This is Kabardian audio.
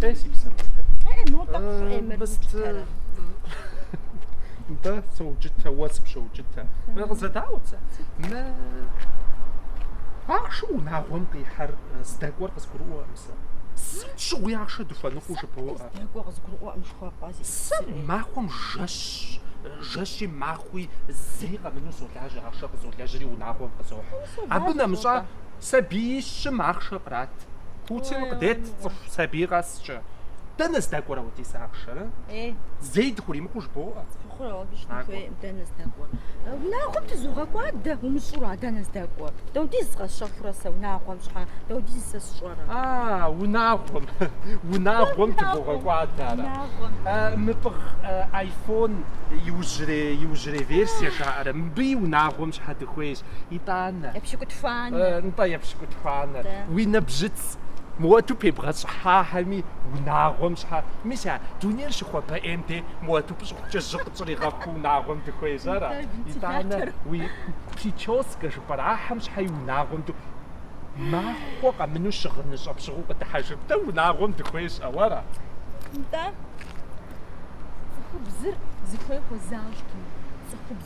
Ей си псэм къытэ. Э, мо тӏэкӏу э, эмэр Быст мытэрэ. Сэ соукӏытэ, уэ сыпщоукӏытэ. Мэ къызэдаӏуэ цэ. Мы ахъшэ унагъуэм къихьэр э, здэкӏуэр къызгурыӏуэкъым сэ. Сытым щыгъуи ахъшэ дыхуэныкъуу жыбоӏэ. Здэкӏуэр къызгурыӏуэкъым жыхуэпӏэ зи. Сэ махуэм жэщ, э, жэщи махуи зыри къэмыну солажьэ, ахъшэ къызолэжьри унагъуэм къызохь. Абы нэмыщӏа Сабий щым ахъшэ кърат. Путин къыдет цӏыху сабий къэскӏэ. Дэнэ здэкӏуэр апхуэдиз ахъшэр? Зэи дыхуримыкъуу жыбоӏэ. Хъурэ, абы щытын хуей, дэнэ здэкӏуэр. Унагъуэм тызогъэкӏуадэ, умыщӏэу ара, дэнэ здэкӏуэр? Дапхуэдиз къэсщэхурэ сэ унагъуэм щхьэ, Дапхуэдиз сэ сщӏэрэ? А, унагъуэм, унагъуэм тыбогъэкӏуадэ ара? Мы пӏыгъ айфон иужьрей, иужьрей версие жаӏэрэ, мыбыи унагъуэм щхьэ дыхуейщ. итӏанэ. Епщыкӏутхуанэ. Нтӏэ, епщыкӏутхуанэ. Уи нэбжьыц мыпхуэдэу пебгъэщӏыхьахэми унагъуэм щхьэ. Мис а дунейр щыхуэбэӏейм дей мыпхуэдэу пщӏыхукӏэ жьы къытщӏригъэхуу унагъуэм дыхуейщ ара? Итӏанэ уи прическэ жыпӏэрэ ахэм щхьэи унагъуэм ду махуэ къэмыну щыгъыныщӏэ пщыгъыу къыдыхьэжып дэ унагъуэм дыхуейщ жыпӏэу ара? Нтӏэ, цӏыхубзыр зыхуей хуэзащӏкъым. Цӏыхубз